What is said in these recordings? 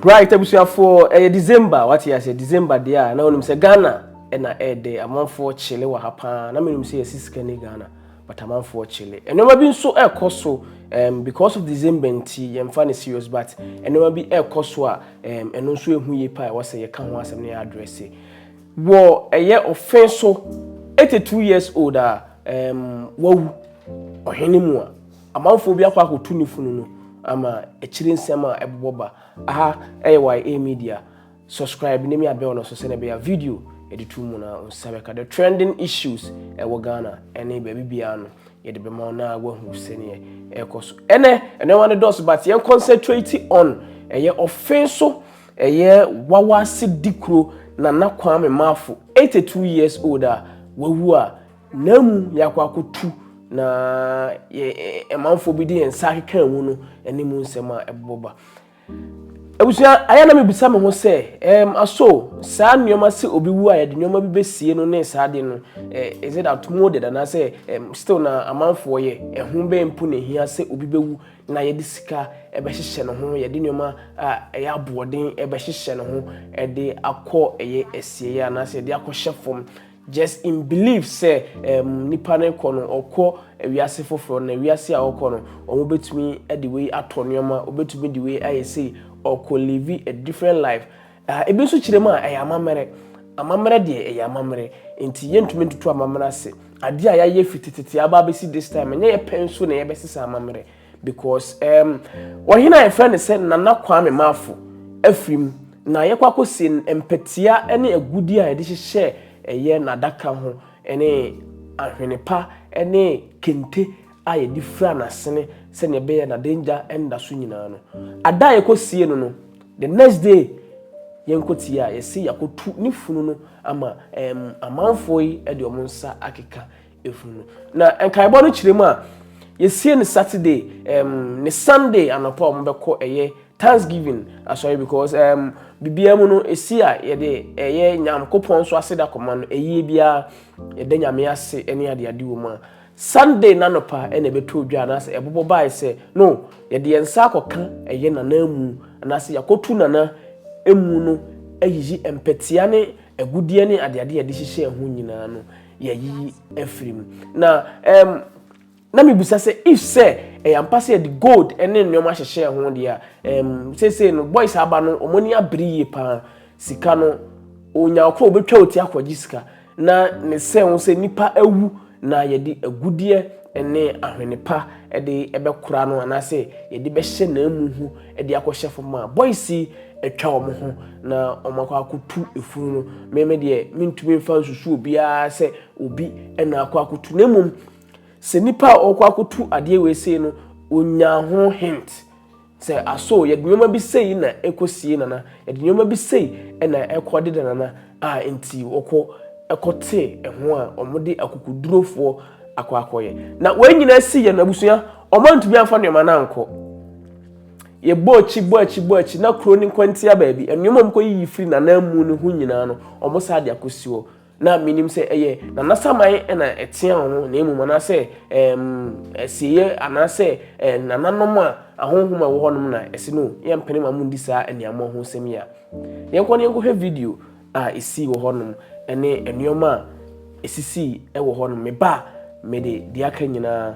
Bright abusuafoɔ ɛyɛ December wate aseɛ December deɛ a na wonim sɛ Ghana ɛna ɛɛdɛ amanfoɔ kyele wɔ ha paa na menim sɛ yɛsi sika ni Ghana but amanfoɔ kyele nneɛma bi nso ɛɛkɔ so um, because of December nti yɛmfa ne serious but nneɛma bi ɛɛkɔ so a um, ɛno nso ɛhu yie paa ɛwɔ sɛ yɛka ho asɛm na yɛ address wɔ ɛyɛ ɔfe so 82 years old a um, wawu ɔhene mu a Amanfoɔ bi akɔ akɔtu ne funu no ama akyire nsɛm a ɛbobɔ ba. Aha ɛyɛ YA media. Subscribe ne mia bell no so sɛnea ɛbɛyɛ a video yɛde tu mu na wo nsa bɛka. The trending issues ɛwɔ Ghana ɛne baabi biara no yɛde bɛma wo na woahu sɛnea ɛrekɔ so ɛnɛ. Nneɛma no dɔɔso but yɛn concentrate on ɛyɛ ɔfe so ɛyɛ Wawase Dikuro Nana Kwame Marfo 82 years old a wawu a Nna mu yɛakɔ akɔtu na yɛn manfoɔ bi de yɛn nsa akeka mu no ne mu nsɛm a ɛbobɔ ba. Abusua, ayɛ na mebisa me ho sɛ, um, aso saa nneɛma sɛ obi wu a yɛde nneɛma bi bɛsie no ne saa de no, eh, is it outmoded anaasɛ um, still na amanfoɔ yɛ? Ɛho bɛn mpo na ɛhia sɛ obi bɛwu na yɛde sika bɛhyehyɛ ne ho, yɛde nneɛma a ɛyɛ aboɔden bɛhyehyɛ ne ho de akɔ ɛyɛ asieɛ anaasɛ yɛde akɔhyɛ fam Just in believe sɛ ɛɛm nipa no kɔ no ɔkɔ wiase foforɔ na wiase a ɔkɔ no ɔmo bɛtumi de wei atɔ nnoɔma ɔbɛtumi de wei ayɛ sei ɔkɔ live a different life ah ebi nso kyerɛ mu a ɛyɛ amammerɛ amammerɛ deɛ ɛyɛ amammerɛ nti yɛntumi ntoto amammerɛ ase adeɛ a yɛayɛ firi tetete aba abɛsi this time ɛnyɛ yɛpɛ nso na yɛbɛsesa amammerɛ. Because um wɔhene a yɛfrɛ no sɛ Nana Kwame Marfo afiri mu na yɛkɔ akɔsie no mpatia ne agudie a yɛde hyehyɛ ɛyɛ n'adaka ho ne ahwene pa ne kente a yɛde fira n'asene sɛdeɛ ɛbɛyɛ n'adagya nda so nyinaa no. Ada a yɛkɔsie no no, the next day yɛnkɔtie a yɛse yɛakɔtu ne funu no ama um, amanfoɔ yi de wɔn nsa akeka funu. Na nkaebɔ no kyerɛ mu a, yɛsie no Saturday um, ne Sunday anɔpa a wɔbɛkɔ ɛyɛ Thanksgiving asɔre because um, biribiara mu no ɛsi a yɛde ɛyɛ Nyankopɔn nso aseda kɔma no ɛyie biara yɛda Nyame ase ne adeade wɔ mu a Sunday n'anɔpa ɛna ɛbɛtɔ dwa anaasɛ ɛbobɔ bae sɛ no yɛde yɛn nsa akɔka ɛyɛ nana mu anaasɛ yɛakɔtu nana emu no ayiyi mpɛtea ne agudeɛ ne adeade yɛde hyehyɛ ho nyinaa no yɛayiyi afiri mu. Na um, na mebisa sɛ if sɛ ɛyɛ ampa sɛ yɛde gold ne nneɛma hyehyɛ ho deɛ a um, seesei no boys aba no wɔn ani abere yie paa sika no onya ɔkoro obɛtwa oti akɔgye sika na ne sɛ ho sɛ nipa awu na yɛde agudeɛ ne ahwene pa de bɛkora no anaasɛ yɛde bɛhyɛ n'amu ho de akɔhyɛ fam a, boys yi atwa wɔn ho na wɔn akɔ akɔtu efunu no. Me me deɛ mentumi mfa nsusu obiara sɛ obi na akɔ akɔtu na mmom sɛ nipa a ɔkɔ akɔtu adeɛ wei sei no onya ho hint sɛ aso yɛde nneɛma bi sei na ɛkɔ sie nana yɛde nneɛma bi sei na ɛkɔ deda nana a nti wɔkɔ ɛkɔ te ɛho a wɔde akokodurofoɔ akɔ akɔyɛ na wɔn nyinaa si yɛn abusua Wɔantumi amfa nneɛma no ankɔ. Yɛbɔɔ akyi, bɔɔ akyi, bɔɔ akyi, na kuro no nkwantia baabi. Nneɛma a wɔkɔyiyi firi n'ananmu no ho nyinaa no, wɔsan de akɔsi hɔ. Na menim sɛ ɛyɛ Nana Saman na ɛtea wɔn na mmom anaasɛ ɛɛm asieɛ anaasɛ ɛɛ nananom a ahonhom a ɛwɔ hɔnom na ɛsi no yɛmpene ma mo ndi saa aniammɔ ho nsɛm yi a. Yɛnkɔ na yɛnkɔhwɛ video a ɛsii wɔ hɔnom ne nneɛma a ɛsisii wɔ hɔnom. Meba a mede deɛ aka nyinaa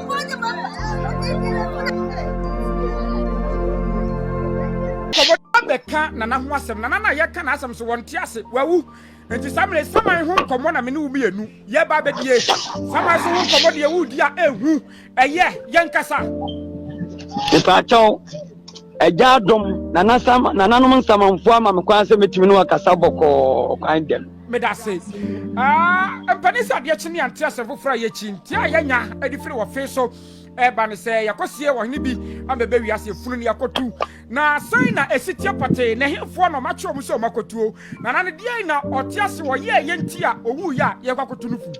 nkɔmmɔdɔba bɛka nana ho asɛm nana na yɛka n'asɛm so wɔnte ase wawu nti saa mmerɛ saman ho nkɔmmɔ na mene wo mmienu yɛba bɛdie saman so ho nkɔmmɔ deɛ wodi a ɛhu ɛyɛ yɛnkasa mepaakyɛw agya adom nananom nsamanfoɔ ama me kwan sɛ mɛtumi ne wakasa bɔkɔɔ kwan dɛm Medase aa mpani sɛ adeɛ kye ne yɛnte asɛm foforɔ a yɛkyi nteɛ a yɛnya de firi wɔ fee so ɛba ne sɛ yɛkɔsie ɔhene bi ama ɛbɛ wiase funu ne yɛkɔtu na sɛn na ɛsi teɛ pɔtee na ɛhefoɔ na ɔmakyerɛ ɔmo sɛ ɔmo akɔtuo na na ne deɛn na ɔte ase ɔyɛ ɛyɛ nti a ɔwu yɛ a yɛkɔ akɔtu no fu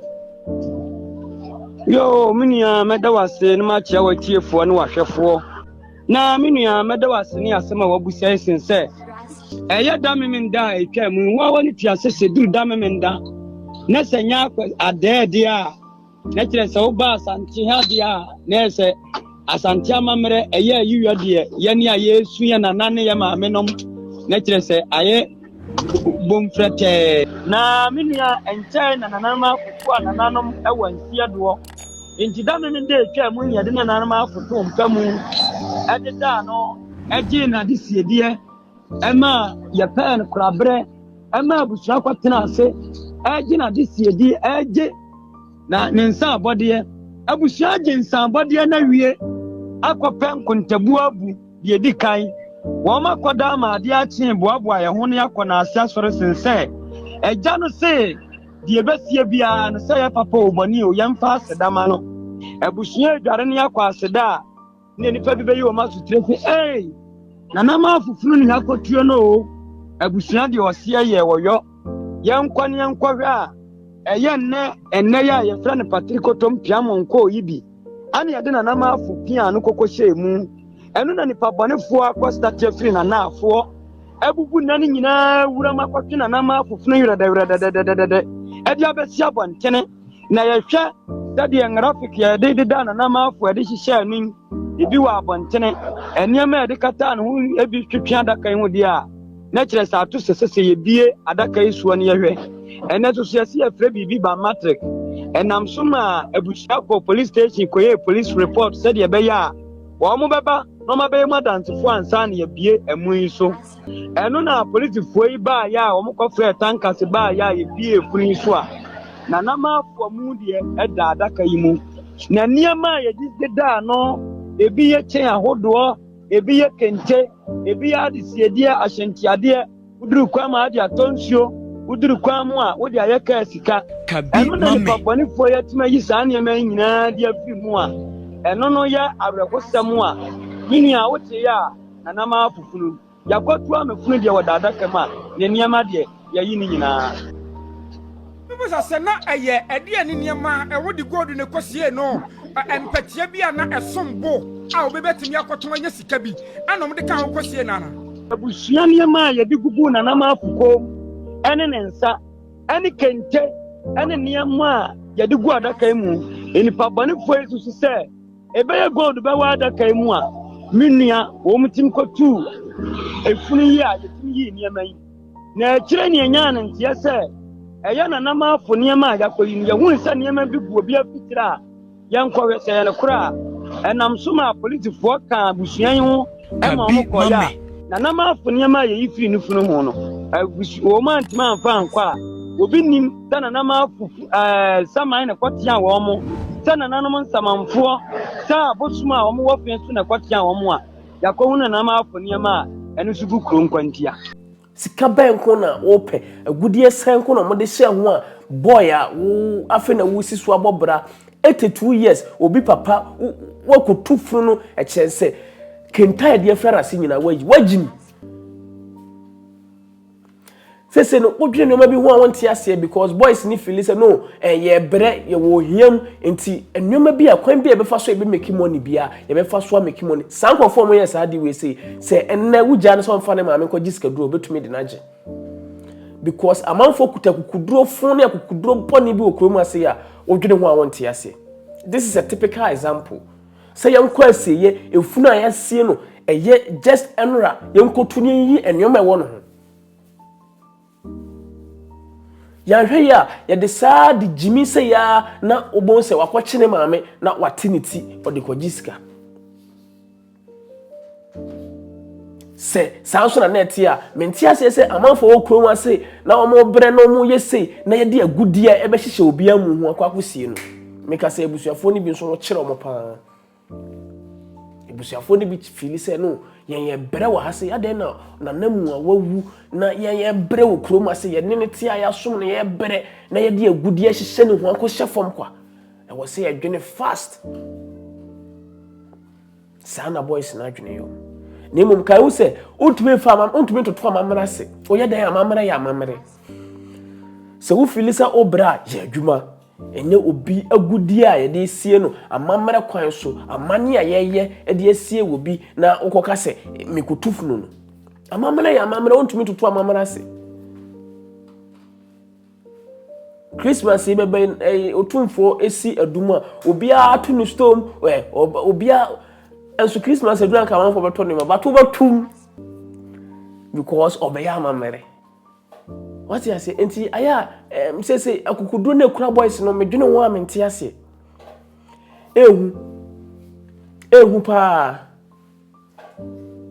yoo me nua mɛda wase ne makyerɛ wɔ atiefoɔ ne wahwɛfoɔ Na me nua, mɛda wo ase ne asɛm a wabisa yi sen sɛ ɛyɛ da memenda a ɛtwa mu ho awa ne tua sɛ sɛ duru da memenda na sɛ nyɛ adɛɛdeɛ a na kyerɛ sɛ woba asante ha deɛ a na ɛyɛ sɛ asante amammerɛ ɛyɛ ayiwa deɛ yɛne a yɛresu yɛ nana ne yɛ maame nom na kyerɛ sɛ ayɛ bom frɛtɛɛ. Na me nua, ɛnkyɛe na nananom afoforo a nananom wɔ nseɛ doɔ nti dame no da ɛtwaa mu nyɛ de nananom afo too mpa mu de daa no gyee n'ade siedeɛ ɛma yɛpɛɛ no koraberɛ ɛma abusua kɔtena ase ɛgye n'ade siedeɛ ɛgye na ne nsa abɔdeɛ abusua gye nsa abɔdeɛ na wie akɔpɛ nkontabuo abu Deɛ ɛdi kan, wɔn akɔda ama adeɛ akyee boaboa yɛn ho ne akɔ n'ase asɔre sen sɛ agya no se deɛ ɛbɛsie biara no sɛ yɛ papa o bɔne o yɛmfa aseda ma no. Abusua adware ne akɔ aseda a ne nnipa bi bɛyi wɔn asotire se ei nana ma afoforo ni ha kɔtuo no o abusua deɛ ɔseɛ yɛ wɔyɔ yɛnkɔ ne yɛnkɔhwɛ a ɛyɛ nnɛ nnɛ yɛ a yɛfrɛ no patirikotom piamonko yi bi. ɛne yɛde nanamaafo pia no koko hyɛɛ mu. Ɛno na nipa bɔnefoɔ akɔstateɛ firi nanaafoɔ abubu nna no nyinaa wuram akɔtwe nanamaafo funu werɛdɛwerɛdɛdɛdɛdɛdɛ ɛde abɛsi abɔntene na yɛhwɛ sɛdeɛ ngrafik yɛde deda nanamaafo ɛde hyehyɛɛ no ebi wɔ abɔntene nneɛma a ɛde kataa ne ho ebi twetwe adaka yi ho deɛ a na kyerɛ sɛ ato sɛ sɛ yɛbie adaka yi soɔ no yɛhwɛ ɛnɛ nso so yɛse yɛfrɛ biribi ba matric ɛnam so ma abusua kɔ police station kɔyɛ police report sɛdeɛ ɛbɛyɛ a wɔn mo bɛba na ɔmabɛyɛ mu adansefoɔ ansa na yɛbie ɛmu yi so ɛno na polisifoɔ yi baayɛ a wɔn kɔfrɛ tankase baayɛ a yɛbie efunu yi so a na namaafoɔ mu deɛ ɛda adaka yi mu na nneɛma a yɛde daa no ebi yɛ kyɛn ahodoɔ ebi yɛ kente, ebi yɛ adesiedeɛ, ahyɛntiadeɛ, woduru kwan ma ade atɔ nsuo, woduru kwan mu a wode ayɛ kaa sika. Ɛno na nipa bɔnefoɔ yɛ atumi ayi saa nneɛma yi nyinaa de afiri mu a, ɛno no yɛ awerɛhosɛm a me nua woteeɛ a nana maa fofunu. Yɛakɔto amafunu deɛ wɔ dadaka mu a, ne nneɛma deɛ. Yɛayi ne nyinaa. Mebisa sɛ na ɛyɛ ɛdeɛn ne nneɛma a wɔde gold na ɛkɔsiee no, mpɛteɛ bi a na ɛsom bo a obi bɛtumi akɔtɔn anya sika bi na wɔde kaa ho kɔsiee no anaa? Abusua nneɛma a yɛde guguu Nanamafo kɔn mu ne ne nsa ne kente ne nneɛma a yɛde gu adaka yi mu. Nnipa bɔnefoɔ yi susu sɛ Ɛbɛyɛ gold bɛwɔ adaka yi mu a me nua wɔn tim kɔtuu efunu yi a yɛtumi yii nneɛma yi. Na akyire ne ɛnyaa no nteɛ sɛ ɛyɛ nanamaafo nneɛma a yɛakɔyi no. Yɛhui sɛ nneɛma bi gu obi afitire a yɛnkɔhwɛ sɛ ɛyɛ nokorɛ a, ɛnam so maa polisifoɔ kaa abusua yi ho ɛma wɔn kɔyɛ a na nam afo nneɛma a yɛyi firi ne funu ho no agusu wɔn antumi amfa ankɔ a obi nim sɛ na nam afo ɛɛ saman na kɔtea wɔn mo sɛ na nanom nsamanfoɔ sɛ abosom a wɔn wɔ fɛn so na kɔtea wɔn a yakɔhu na nam afo nneɛma a ɛno nso gu kuro nkwantia. Sika bɛn nko na wopɛ? Agudeɛ sɛn nko na wɔde hyɛɛ ho a boy a wo afei na woresi so abɔ bra 82 years obi papa wo woakɔtu funu no ɛkyerɛ sɛ kente a yɛde afira no ase nyinaa woayi woagyim sese no wodwene nneɛma bi ho a wonte aseɛ because boys ne fili sɛ no eh, yɛbrɛ yɛwɔ ohiam nti nneɛma bi a kwan bi a yɛbɛfa so a yɛbɛmaki money biara Yɛbɛfa so ameki mu ni. Saa nkurɔfoɔ a wɔyɛ saa adeɛ wei sei, sɛ ɛnnɛ wogyaa no sɛ ɔmfa ne maame nkɔgye sikaduro a, ɔbɛtumi de no agye. Because amanfoɔ kuta akukuduro fo ne akukuduro bɔne bi wɔ kuro mu ase yi a, wodwene ho a wonte aseɛ. This is a typical example. Sɛ yɛnkɔ asieeɛ, efunu a yɛasie no, ɛyɛ just nnora, yɛnkɔtu na yɛnyiyi nneɛma a ɛwɔ no ho. Yɛanhwɛ yie a, yɛde saa de gyimi sɛ yaa na wobɛhu sɛ wakɔkye ne maame na wate ne ti ɔde kɔgye sika. Sɛ saa nso na na ɛte a, mente aseɛ sɛ amanfoɔ wɔ kurom ase na wɔbrɛ na wɔyɛ sei na yɛde agudeɛ ɛbɛhyehyɛ obiara mu ho akɔ akɔsie no. Meka sɛ abusuafoɔ no bi nso wɔkyerɛ wɔn paa. Abusuafoɔ no bi fiili sɛ no yɛn yɛ brɛ wɔ ha se adɛn na nanamu a wawu na yɛn yɛ brɛ wɔ kurom ase yɛne ne te a yɛasom no yɛ brɛ na yɛde agudi ahyehyɛ ne ho akɔhyɛ fam kwa ɛwɔ sɛ yɛdwene fast saa na boys no adwene yɛ na mmom kae wo sɛ wontumi mfa ama wontumi ntoto amammerɛ ase woyɛ dɛn amammerɛ yɛ amammerɛ sɛ wofili sɛ wobrɛ a yɛ adwuma Ɛnyɛ obi agudeɛ a yɛde resie no amammerɛ kwan so, amanneɛ a yɛyɛ de asie obi na wokɔka sɛ mekotu funu no. Amammerɛ yɛ amammerɛ, wontumi ntoto amammerɛ ase. Christmas yi bɛbɛ ɛyi otumfoɔ esi adum a obiara to ne stom ɛ obiara nso Christmas adum anka amanfoɔ bɛtɔ nneɛma bato bɛtum because ɔbɛyɛ amammerɛ. Wate aseɛ? Enti ayɛ a ɛm sese akokoduro na ekura boys no medwene ho a mente aseɛ. Ehu ehu paa.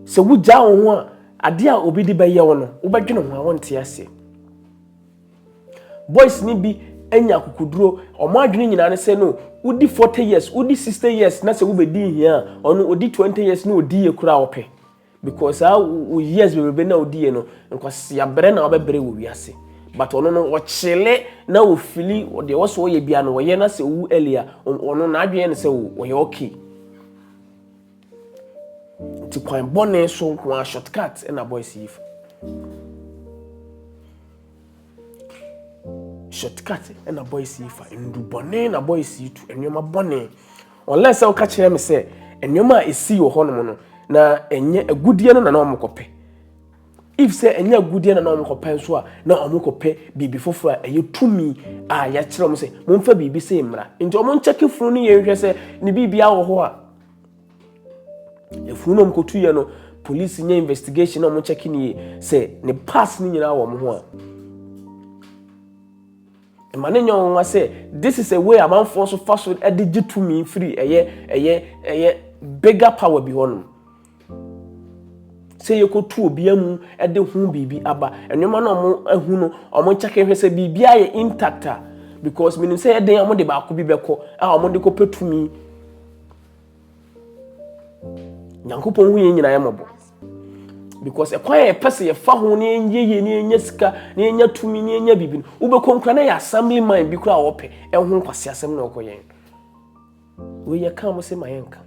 Sɛ wogyaa wo ho a adeɛ a obi de bɛyɛ wo no wobɛdwene ho a wonte aseɛ. Boys ni bi anya akokoduro wɔn adwene nyinaa ne sɛ no wodi 40 years wodi 60 years na sɛ wobɛdi hia a ɔno odi 20 years na odi yɛ kura ɔpɛ. Because saa wo years bebrebe na odi yɛ no, nkwasea brɛ na ɔbɛbrɛ wɔ wiase. But ɔno no ɔkyele na ofili deɛ ɛwɔ so ɔyɛ bia no ɔyɛ na sɛ owu early a ɔno n'adwene yɛ no sɛ o ɔyɛ okay. Nti kwan bɔne so nko ara shortcut na boys yi fa. Shortcut na boys yi fa ndu bɔne na boys yi tu nneɛma bɔne. Unless sɛ woka kyerɛ me sɛ nneɛma a ɛsii wɔ hɔnom no na ɛnyɛ agudeɛ no na na wɔkɔpɛ. If sɛ ɛnyɛ agudeɛ na na wɔkɔpɛ nso a na wɔkɔpɛ biribi foforɔ a ɛyɛ tumi a yɛakyerɛ wɔn sɛ momfa biribi sɛ mmara. Nti wɔnkyɛke funu no yɛ nhwɛ sɛ ne biribi awɔ hɔ a. Efunu na wɔkɔtu yɛ no, polisi nyɛ investigation na wɔkyɛke no yie sɛ ne pass no nyinaa wɔ wɔn ho a. Ɛma no nyɛ wɔn nwa sɛ this is a way amanfoɔ so fa so de gye tumi firi ɛyɛ ɛyɛ ɛyɛ bigger power bi hɔnom. Sɛ yɛkɔtu obia mu de ho biribi aba, nneɛma na wɔn ahu no wɔn kyɛke hwɛ sɛ biribi ayɛ intact a because menim sɛ yɛ den a wɔn de baako bi bɛkɔ a wɔn de kɔpɛ tumi nyankopɔn hu yɛn nyinaa mmɔbɔ because ɛkwan a yɛpɛ sɛ yɛfa ho na yɛnyɛ yie na yɛnya sika na yɛnya tumi na yɛnya biribi no wobɛkɔ nkura na yɛ assembly man bi kora a wɔpɛ ɛho nkwasi asɛm na ɔkɔ yɛn wei yɛka mo sɛ ma yɛnka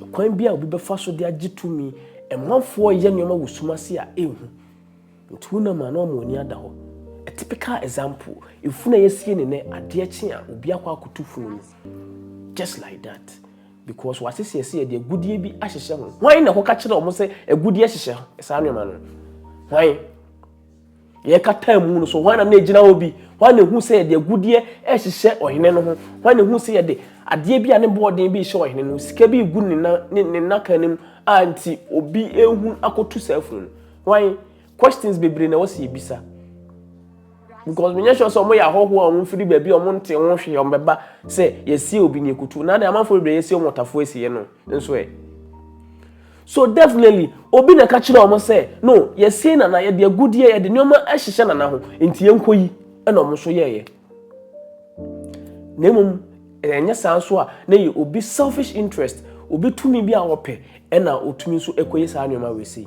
Ɔkwan bi a obi bɛfa so de agye tumi, Ɛmanfoɔ reyɛ nneɛma wɔ sum ase a ɛnhu, nti wonam a na wama w'ani ada hɔ. A typical example, efunu a yɛasie no nnɛ, adeɛ kye a, obi akɔ akoto funu no. Just like that. Because wɔasese ɛsɛ yɛde agudeɛ bi ahyehyɛ ho. Hwan na ɛkɔka kyerɛ wɔn sɛ agudeɛ hyehyɛ saa nneɛma no? Hwan? Deɛ ɛkata mu no so, hwan na na ɛgyina hɔ bi? Hwan na ɛhu sɛ yɛde agudeɛ rehyehyɛ ɔhene no ho? Hwan na ɛhu sɛ yɛde adeɛ bi a ne boɔden bi rehyɛ ɔhene no? Sika bi regu ne nan ne ne nnaka no mu a nti obi rehu akɔtu saa funu no. Hwan? Questions bebree na ɛwɔ sɛ yɛbisa. Because menyɛ sure sɛ wɔyɛ ahɔhoɔ a wɔmfiri baabi a wɔnte ho hwee wɔbɛba sɛ yɛsie obi ne yɛkɔtu. Na de amanfoɔ bebree yɛsie wɔn ɔtafoɔ asieɛ no. Nso ɛ? So definitely obi na ɛka kyerɛ wɔn sɛ no yɛsie nana yɛde agudeɛ yɛde nneɛma ahyehyɛ nana ho nti yɛnkɔ yi ɛna wɔn nso yɛɛyɛ na mmom ɛnyɛ saa nso a na yɛ obi selfish interest obi tumi bi a wɔpɛ ɛna otumi nso ɛkɔyɛ saa nneɛma wei sei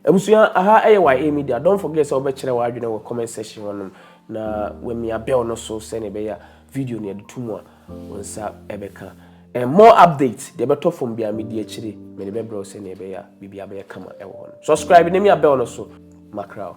Abusua aha yɛ YA media don't forget sɛ wobɛkyerɛ w'adwene wɔ comment section hɔ nom na wamia bell no so sɛnea ɛbɛyɛ a video no yɛde to mu a wo nsa ɛbɛka and more updates deɛ ɛbɛtɔ fam biara medi akyire mede bɛbrɛ wo sɛnea ɛbɛyɛ a biribiara bɛyɛ kama ɛwɔ hɔ no subscribe na mia bell no so makra wo.